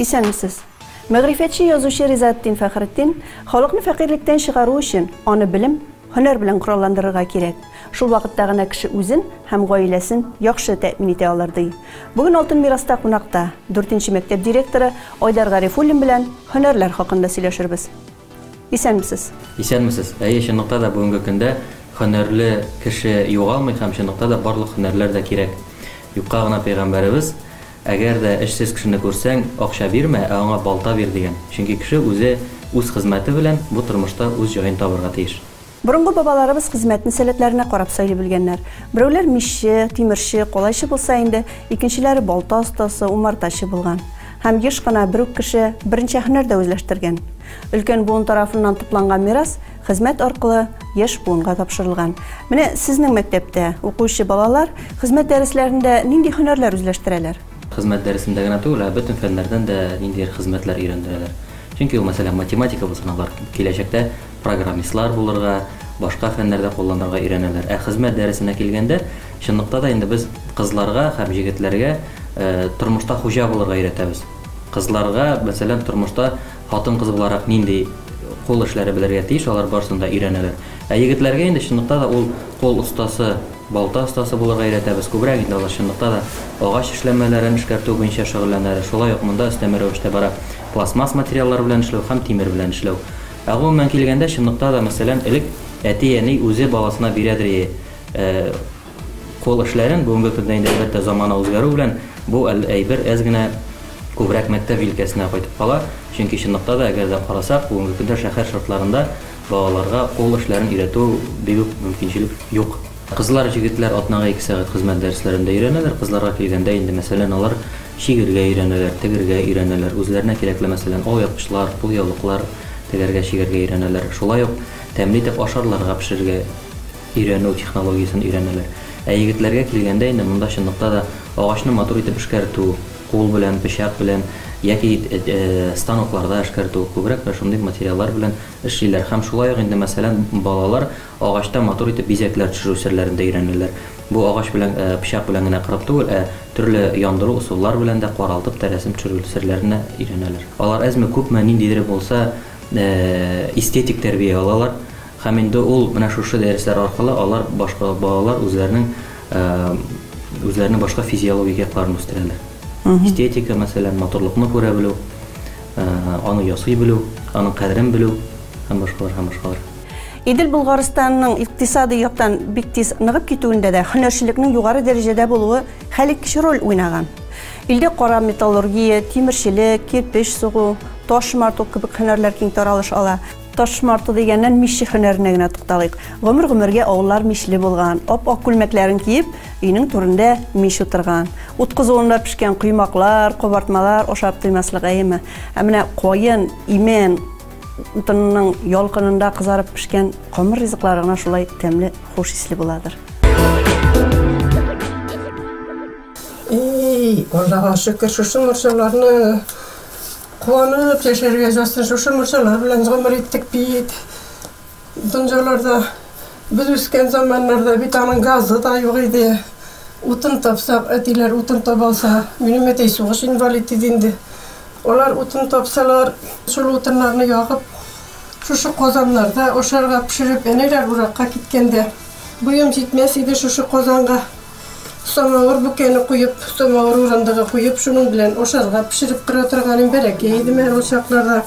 Исәнмесез. Мәгърифәтче язучы Ризаттин Фәхретдин халыкны фәкыйрьлектән чыгару өчен аны белем, Һөнәр белән коралландырырга кирәк. Шул вакытта гына кеше үзен һәм гаиләсен яхшы тәэмин итә алыр, ди бүген Алтын мираста кунакта дүртенче мәктәп директоры Айдар Гарифуллин белән һөнәрләр хакында сөйләшербез. Исәнмесез! Исәнмесез! Әйе, чынлыкта да бүгенге көндә һөнәрле кеше югалмый һәм чынлыкта да барлык һөнәрләр дә кирәк. Юкка гына пәйгамбәребез Әгәр дә эшсез кешене күрсәң, акча бирмә, ә аңа балта бир, дигән. Чөнки кеше үзе үз хезмәте белән бу тормышта үз җаен табырга тиеш. Борынгы бабаларыбыз хезмәтне сәләтләренә карап сайлый белгәннәр. Берәүләр мичче, тимерче, калайчы булса инде, икенчеләре балта остасы, умартачы булган. Һәм еш кына бер үк кеше берничә һөнәр дә үзләштергән. Өлкән буын тарафыннан тупланган мирас, Хезмәт аркылы яшь буынга тапшырылган. Менә сезнең мәктәптә укучы балалар хезмәт дәресләрендә нинди һөнәрләр үзләштерәләр? Хезмәт дәресендә генә түгел, ә бөтен фәннәрдән дә ниндидер хезмәтләр өйрәндерәләр. Чөнки ул, мәсәлән, математика булсын, алар киләчәктә программистлар булырга, башка фәннәрдә кулланырга өйрәнәләр. Ә хезмәт дәресенә килгәндә, чынлыкта да инде без кызларга һәм җегетләргә тормышта хуҗа булырга өйрәтәбез. Кызларга, мәсәлән, тормышта Хатын-кыз буларак нинди кул эшләре белергә тиеш, алар барысын да өйрәнәләр. Ә егетләргә инде чынлыкта да ул кул остасы, балта остасы булырга өйрәтәбез. Күбрәк инде алар чынлыкта да агач эшләнмәләрен эшкәртү буенча шөгыльләнәләр. Шулай ук монда өстәмә рәвештә бара пластмасс материаллар белән эшләү һәм тимер белән эшләү. Ә гомумән килгәндә, чынлыкта да, мәсәлән, элек әти-әни үзе баласына бирәдер е, Кул эшләрен, бүгенге көндә инде, әлбәттә, замана үзгәрү белән бу әйбер әз генә күбрәк мәктәп җилкәсенә кайтып кала, чөнки чынлыкта да, әгәр дә карасак, бүгенге көндә шәһәр шартларында балаларга кул эшләрен өйрәтү бик үк мөмкинчелек юк. Кызлар, җегетләр атнага ике сәгать хезмәт дәресләрендә өйрәнәләр, кызларга килгәндә инде, мәсәлән, алар чигергә өйрәнәләр, тегергә өйрәнәләр, үзләренә кирәкле, мәсәлән, алъяпкычлар, кулъяулыклар тегәргә, чигәргә өйрәнәләр, шулай ук тәмле итеп ашарларга пешерергә. өйрәнү технологиясен өйрәнәләр. Ә егетләргә килгәндә инде монда чынлыкта да агачны матур итеп эшкәртү, кул белән, пычак белән яки станокларда эшкәртү, күбрәк менә шундый материаллар белән эшлиләр һәм шулай ук инде мәсәлән балалар агачта матур итеп бизәкләр төшерү серләрен дә өйрәнәләр. Бу агач белән, пычак белән генә кырып түгел, ә төрле яндыру усыллар белән дә каралтып та рәсем төшерү серләрен дә өйрәнәләр. Алар әзме-күпме ниндидер булса эстетик тәрбия алалар. Һәм инде ул менә шушы дәресләр аркылы алар башка балалар үзләренең үзләренең башка физиологик якларын үстерәләр. Эстетика, мәсәлән, матурлыкны күрә белү, аны ясый белү, аның кадерен белү һәм башкалар һәм башкалар. Идел Болгарстанның икътисадый яктан бик тиз ныгып китүендә дә һөнәрчелекнең югары дәрәҗәдә булуы хәлиткеч роль уйнаган. Илдә кара металлургия, тимерчелек, кирпеч сугу, таш марту кебек һөнәрләр киң таралыш ала. Таш марты дигәннән, мичче һөнәренә генә тукталыйк. Гомер-гомергә авыллар мичле булган. Ап-ак күлмәкләрен киеп, өйнең түрендә мич утырган. Ут кызуында пешкән коймаклар, кабартмалар ашап туймаслык әйеме. Ә менә каен, имән утынының ялкынында кызарып пешкән камыр ризыклары гына шулай тәмле, хуш исле буладыр. И-и-и, Аллага шөкер, шушы морҗаларны! Куанып яшәргә язсын, шушы мунчалар белән гомер иттек бит. Донжаларда без үскән заманнарда бит аның газы да юк иде. Утын тапсак, әтиләр утын таба алса, минем әти сугыш инвалид иде инде. Алар утын тапсалар, шул утыннарны ягып, шушы казаннарда ашарга пешереп, әниләр уракка киткәндә, буем җитмәс иде шушы казанга. Самавыр бүкәне куеп, самавыр урындыгы куеп, шуның белән ашарга пешереп тора торганым бәләкәй идем әле ул чакларда.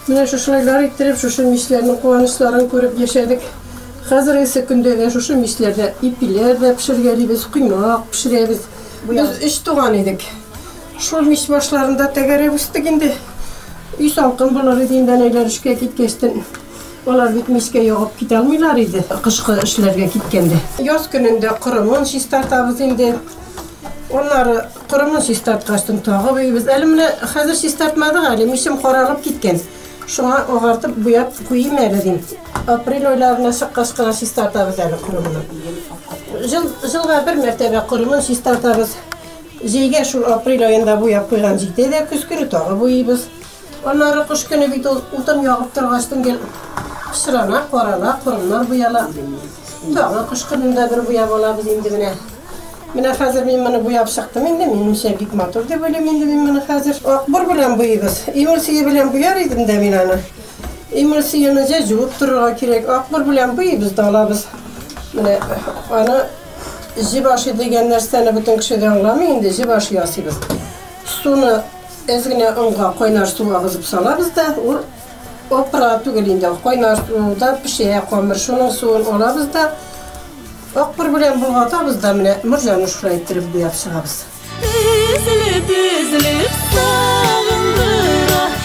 Менә шушылайлар иттереп, шушы мичләрнең куанычларын күреп яшәдек. Хәзергесе көндә дә шушы мичләрдә ипиләр дә пешергәлибез, коймак пешерәбез. Без өч туган идек. Шул мич башларында тәгәрәп үстек инде. Өй салкын булыр иде инде, әниләр эшкә киткәчтен. Алар бит мичкә ягып киталмыйлар иде, кышкы эшләргә киткәндә. Яз көнендә корымын чистартабыз инде. Аннары корымын чистарткачтын тагы буйыйбыз. Әле менә хәзер чистартмадык әле, мичем каралып киткән. Шуңа агартып буяп куйыйм әле дим. Апрель айларына чыккач кына чистартабыз әле корымны. Җыл, җылга бер мәртәбә корымын чистартабыз. Җәйгә шул апрель аенда буяп куйган җитә дә, көз көне тагы буйыйбыз. Аннары кыш көне бит ул утын ягып торгач, төнге пычрана, карала, корымнар буяла. Тагы кыш көнендә бер буяп алабыз инде менә. Менә хәзер мин моны буяп чыктым инде, минемчә бик матур дип уйлыйм инде мин моны хәзер. Акбур белән буйыбыз. Эмульсия белән буяр идем дә мин аны. Эмульсияне җә җуып торырга кирәк. Акбур белән буйыбыз да алабыз. Менә аны җибаши дигән нәрсәне бөтен кеше дә аңламый инде, җибаши ясыйбыз. Суны әз генә онга кайнар су агызып салабыз да, ул опра түгел инде, кайнар суда пешә камыр. Шуның суын алабыз да, акбур белән болгатабыз да, менә морҗаны шулай иттереп буяп чыгабыз. Өзелеп, өзелеп, сагындыра.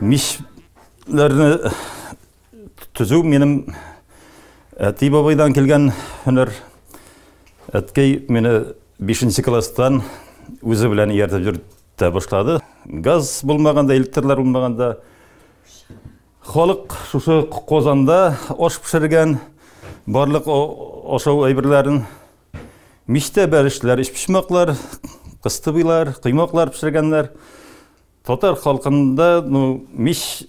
Мишләрне төзү минем әти бабайдан килгән һөнәр. Әткәй мине 5 класстан үзе белән ияртеп йөртә башлады. Газ булмаганда, электрлар булмаганда халык шушы Казанда аш пешергән, барлык ашау әйберләрен Мичтә бәрешләр, өчпочмаклар, кыстыбыйлар, коймаклар пешергәннәр. Татар халкында ну, мич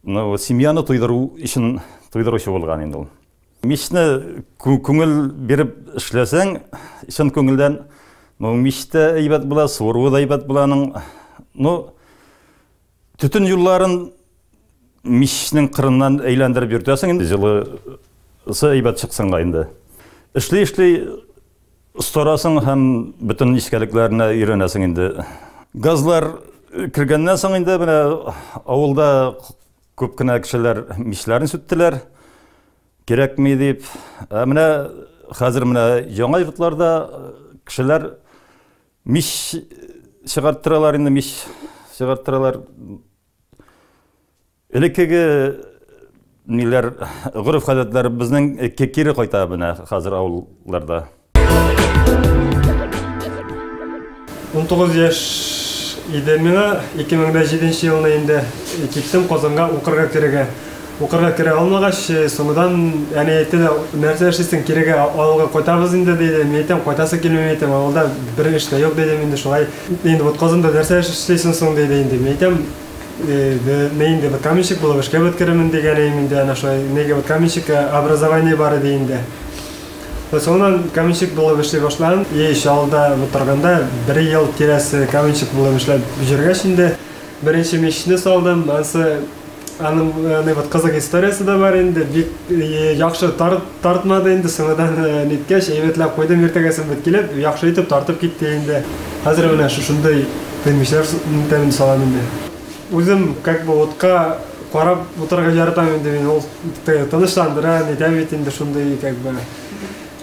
ну, семьяны туйдыру өчен туйдыручы булган инде ул. Мичне күңел биреп эшләсәң, чын күңелдән ну, мичтә әйбәт була, суыруы да әйбәт була аның. Ну, Төтен юлларын мичнең кырыннан әйләндереп йөртәсең инде җылысы әйбәт чыксын да инде. Эшли-эшли остарасың һәм бөтен нечкәлекләренә өйрәнәсең инде. Газлар кергәннән соң инде менә авылда күп кенә кешеләр мичләрен сүттеләр, кирәкми дип. Ә менә хәзер менә яңа йортларда кешеләр Мич чыгарттыралар инде, мич чыгарттыралар. Элеккеге ниләр гореф-гадәтләр безнең кире кайта менә хәзер авылларда. 19 яшь иде миңа, 2007 елны инде киттем Казанга укырга керергә. Укырга керә алмагач, соңгыдан әни әйтте дә, нәрсә эшлисең, кирегә авылга кайтабыз инде, диде. Мин әйтәм, кайтасы килми, мин әйтәм, авылда бер эш тә юк, дидем инде, шулай. Инде вот Казанда нәрсә эш эшлисең соң, диде инде. Мин әйтәм, мин инде вот каменщик булып эшкә вот керермен, дигән идем инде, әнә шулай, нигә вот каменщик образование бар иде инде. Вот соңыннан каменщик булып эшли башладым. И еще авылда вот торганда бер ел тирәсе каменщик булып эшләп йөргәч инде, Беренче мичне салдым, ансы аның э, вот кызык историясе дә бар инде, бик э, яхшы тар, тартмады инде, соңыдан э, ниткәч, әйбәтләп куйдым иртәгәсен бит килеп, яхшы итеп тартып китте инде. Хәзер менә шушындый пенмишләр тәмен салам инде. Үзем как бы утка карап утырырга яратам инде мин, ул тынычландыра, нитә бит инде шундый как бы.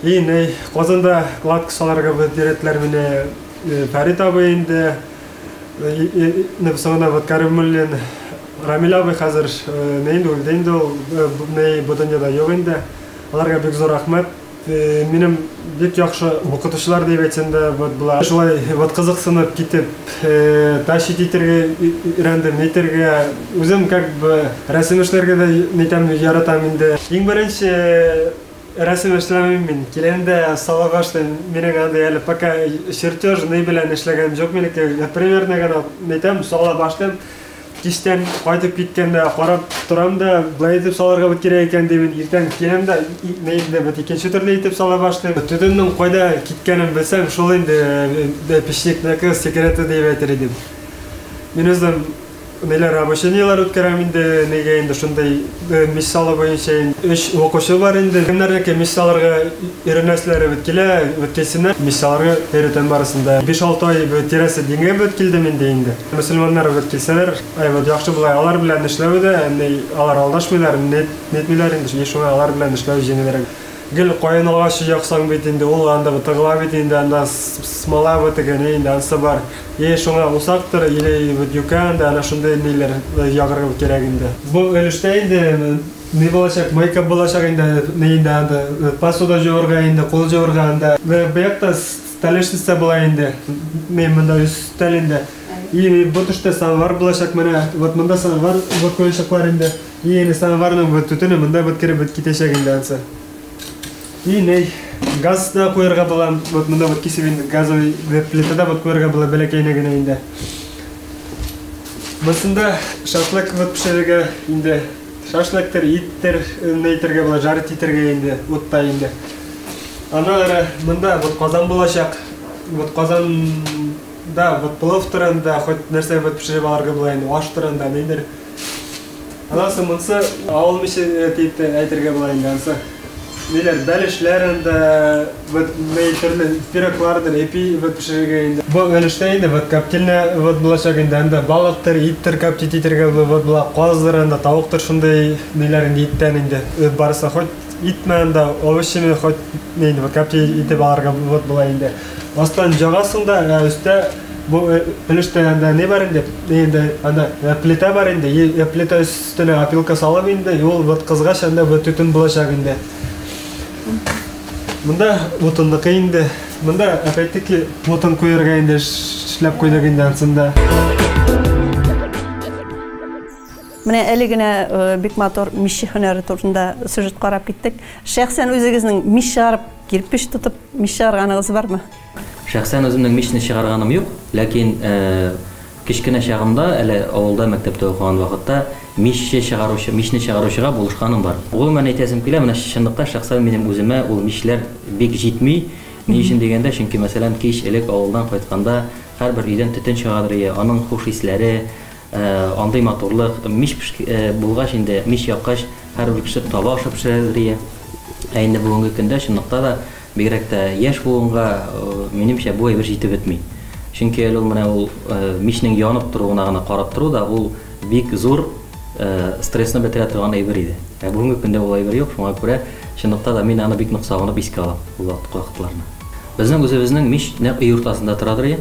И, ней, казанда кладка саларга бирәтләр менә Фәрит абый инде Инде соңына вот Кәримуллин Рамил абый хәзер не инде үлде инде ул не бу дөньяда юк инде. Аларга бик зур рәхмәт. Минем бик яхшы укытучылар дип әйтсәм дә вот була. Шулай вот кызыксынып китеп тащить итәргә өйрәндем, нитәргә. Үзем как бы рәсем эшләргә дә нитәм, яратам инде. Иң беренче Рәсем эшләмим мин, киләм дә салонга эшлим, минең андый әле пока чертеж ни белән эшләгәнем җук минеке, я примерно гына нитәм, сала башлыйм, кичтән кайтып киткәндә карап торам да, болай итеп салырга бит кирәк икән дим, иртән киләм дә нәетне бит икенче төрле итеп сала башлыйм. Төтеннең кайда киткәнен белсәң, шул инде печникныкы секреты диеп әйтер идем. Мин үзем Ниләр обучениеләр үткәрәм инде, нигә инде шундый миссалы буенча инде. Өч укучы бар инде. Кемнәрнеке миссаларга өйрәнәселәре бит килә, бит килсеннәр. Миссаларга өйрәтәм барысын да. Биш-алты ай бит тирәсе дингә бит килдем инде инде. Мөселманнар бит килсәләр, әйбәт, яхшы була. Алар белән эшләве дә, ни, алар алдашмыйлар, ни, нитмиләр инде, шуңа алар белән эшләү җиңелрәк. Гел каен агачы яксаң бит инде, ул анда утырыла бит инде, анда смола бетергәне инде, ансы бар. Е, шуңа усактыр, или вот юкә анда, әнә шундый ниләр ягырга кирәк инде. Бу өлештә инде ни булачак, мойка булачак инде, ни инде анда, посуда җуырга инде, кул җуырга анда. Менә бу якта столешница була инде, ни, монда өстәл инде. И бу төштә самовар булачак, менә вот монда самовар, вакуельщиклар инде. И инде самоварның бу төтене монда бит кереп бит китәчәк инде ансы. И не газ да куярга була, вот монда вот кисеп инде газовый плитада вот куярга була бәләкәйне генә инде. Монда шашлык вот пешерергә инде шашлыктыр, иттер, нәйтергә була, жарит итергә инде, утта инде. Ана ара монда вот казан булачак. Вот казан да вот плов турында, хоть нәрсә вот пешереп алырга була инде, аш турында, нидер. Анасы монсы авыл миче э, дип тә әйтергә була инде. Ансы ниләр бәлешләр инде, вот мей төрле пироглардыр, эпи вот пешерергә инде. Бу өлештә инде вот коптильня вот булачак инде. Анда балыктыр, иттер коптить итергә була, вот була каздыр анда, тавыктыр шундый ниләр инде иттән инде. Э, Барысы хоть итме анда, овощеме хоть нейди, вот коптить итеп аларга вот була инде. Астан җагасың да, ә өстә Бу э, өлештә анда не бар инде? Инде анда э, плита бар инде. Э, плита өстенә опилка салып инде, ул вот кызгач анда вот төтен булачак инде. Монда утынныкы инде. Монда опять-таки утын куярга инде эшләп куйдык инде ансында. Менә әле генә бик матур мишә һөнәре турында сюжет карап киттек. Шәхсән үзегезнең мишә арып, кирпич тотып мишә арганыгыз бармы? Шәхсән үземнең мичне чыгарганым юк, ләкин кечкенә чагымда, әле авылда мәктәптә укыган вакытта, мичче чыгаручы, мичне чыгаручыга булышканым бар. Гомумән әйтәсем килә, менә чынлыкта шәхсән минем үземә ул мичләр бик җитми. Ни өчен дигәндә, чөнки, мәсәлән, кич элек авылдан кайтканда, һәрбер өйдән төтен чыгадыр иде, аның хуш исләре, андый матурлык, мич пеш, булгач инде, мич яккач, һәрбер кеше таба ашап пешерәдер иде. Ә инде бүгенге көндә, чынлыкта да, Бигрәк тә яшь буынга, минемчә, бу әйбер җитеп бетми. Чөнки әле ул менә ул мичнең янып торуына гына карап тору да ул бик зур стрессны бетерә торган әйбер иде. Ә бүгенге көндә ул әйбер юк, шуңа күрә чынлыкта да мин аны бик нык сагынып искә алам ул вакытларны. Безнең үзебезнең мич нәкъ өй уртасында торадыр иде.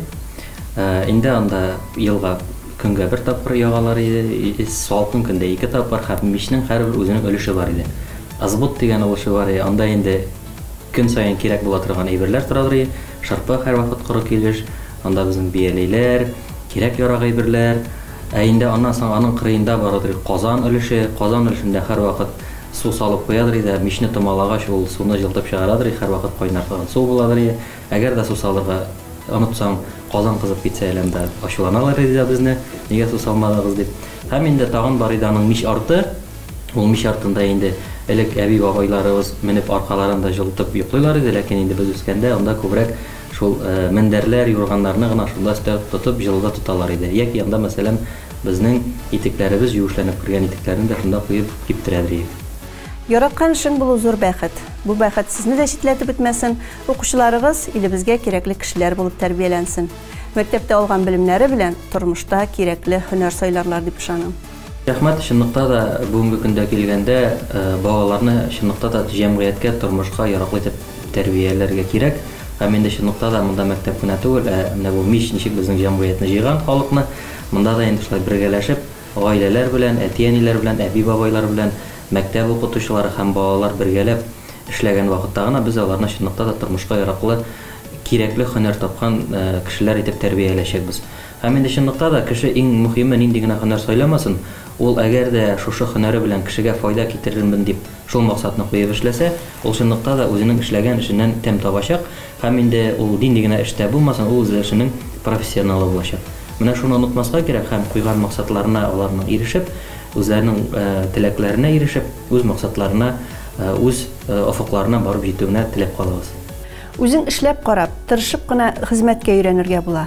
Инде анда елга көнгә бер тапкыр ягалар иде, салкын көндә ике тапкыр һәм мичнең һәрбер үзенең өлеше бар иде. Ызбут дигән ул шөгары, анда инде Көн саен кирәк була торган әйберләр торалрый, шырпы һәрвакыт коры килеш, анда безнең бияләйләр, кирәк-ярак әйберләр. Ә инде аннан соң аның кырыенда барыдыр казан өлеше, казан өлешендә һәрвакыт су салып куядырый да, мичне томалагач, ул суны җылытып чыгарадырый, һәрвакыт кайнар торган су буладырый. Әгәр дә су салырга онытсаң, казан кызып китсә әле анда ачуланаларыдый да безне, нигә су салмадыгыз дип. Һәм инде тагын барыйды аның мич арты. Ул мич артында инде элек әби-бабайларыбыз менеп аркаларын да җылытып йоклыйлар иде, ләкин инде без үскәндә анда күбрәк шул мендәрләр, юрганнарны гына шунда өстәп тотып җылыда тоталар иде. Яки анда, мәсәлән, безнең итекләребез юешләнеп кергән итекләрне дә шунда куеп киптерәдер идек. Яраткан эшең булу зур бәхет. Бу бәхет сезне дә читләтеп бетмәсен, укучыларыгыз илебезгә кирәкле кешеләр булып тәрбияләнсен. Мәктәптә алган белемнәре белән тормышта кирәкле һөнәр сайларлар дип ышанам. Рәхмәт, чынлыкта да бүгенге көндә килгәндә балаларны чынлыкта да җәмгыятькә, тормышка яраклы итеп тәрбияләргә кирәк. Һәм инде чынлыкта да монда мәктәп кенә түгел, ә менә бу мич ничек безнең җәмгыятьне җыйган, халыкны, монда да инде шулай бергәләшеп, гаиләләр белән, әти-әниләр белән, әби-бабайлар белән, мәктәп укытучылары һәм балалар бергәләп эшләгән вакытта гына без аларны чынлыкта да тормышка яраклы, кирәкле һөнәр тапкан кешеләр итеп тәрбияләячәкбез. Һәм инде чынлыкта да, кеше иң мөхиме нинди генә һөнәр сайламасын, ул әгәр дә шушы һөнәре белән кешегә файда китерермен дип шул максатны куеп эшләсә, ул чынлыкта да үзенең эшләгән эшеннән тәм табачак һәм инде ул нинди генә эштә булмасын, ул үзе эшенең профессионалы булачак. Менә шуны онытмаска кирәк һәм куйган максатларына аларның ирешеп, үзләренең теләкләренә ирешеп, үз максатларына, үз офыкларына барып җитүенә теләп калабыз. Үзең эшләп карап, тырышып кына хезмәткә өйрәнергә була.